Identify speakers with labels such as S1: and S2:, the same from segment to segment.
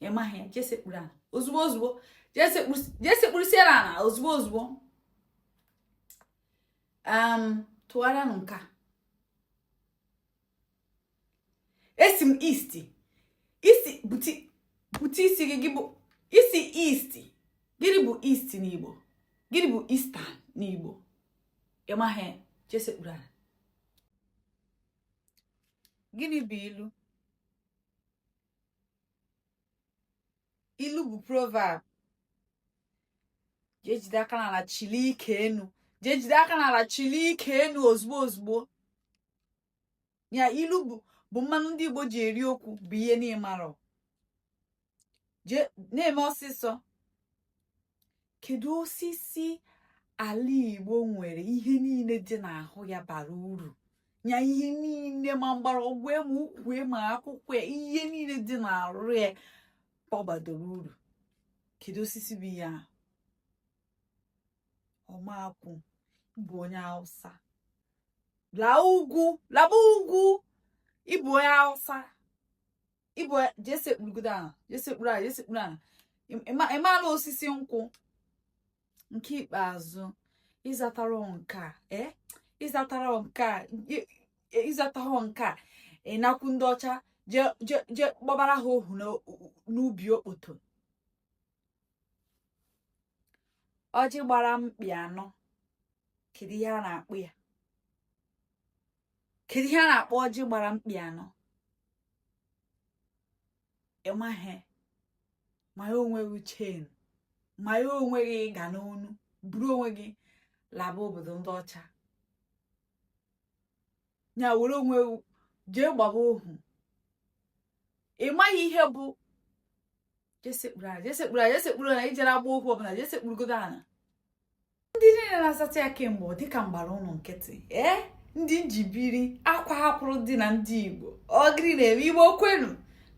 S1: ị maghị ya jee sekpuru ala ozugbo ozugbo jee sekpurusiere ala ozugbo ozugbo um, tụgharịanụ nke a asị m east isi bute isi gị gị bụ isi east gịnị bụ east n'igbo gịnị bụ eastern n'igbo ị maghị jee sekpuru ala gịnị bụ ilu ilu bụ proverb jee jide aka n'ala chili ike enu jee jide aka n'ala chili ike enu ozugbo ozugbo ya ilu bụ bụ mmanụ ndị Igbo ji eri okwu bụ ihe na ị marọ jee na-eme ọsịsọ kedu osisi ala igbo nwere ihe niile dị n'ahụ ya bara uru nya ihe niile ma mgbọrọgwụ ma ukwu ma akwụkwọ ihe niile dị n'arụ ya ọ gbadoro uru kedu osisi bụ ya ọmakwụ ị bụ onye hausa laa ugwu laba ugwu ị bụ onye hausa ị bụ jee sekpurugodo ala jee sekpuru ala jee sekpuru ala ị marọ osisi nkwụ nke ikpeazụ ị zatarọ nke a ee ị zatarọ nke a ị zatarọ nke a ị nakwu ndị ọcha jee gbabara ha ohu n'ubi okpoto ọjị gbara mkpi anọ kedu ihe a na-akpọ ya kedu ihe a na-akpọ ọjị gbara mkpi anọ ị maghị manye onwe gị chain manye onwe gị ịga n'onu buru onwe gị laba obodo ndị ọcha ya were onwe gị jee gbaba ohu ị maghị ihe bụ jee sekpuru ala jee sekpuru ala jee sekpuru ala ijere agba okwu ọbụla jee sekpurugodo ala ndị niile na-azata ya kemgbe ọ dịka m gbara unu nkịtị ee ndị njibiri akwa hapụrụ dị na ndị igbo ọ gịnị na-eme igbo kwenu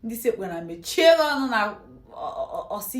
S1: ndị sekpu ana mechie ọnụ na ọsị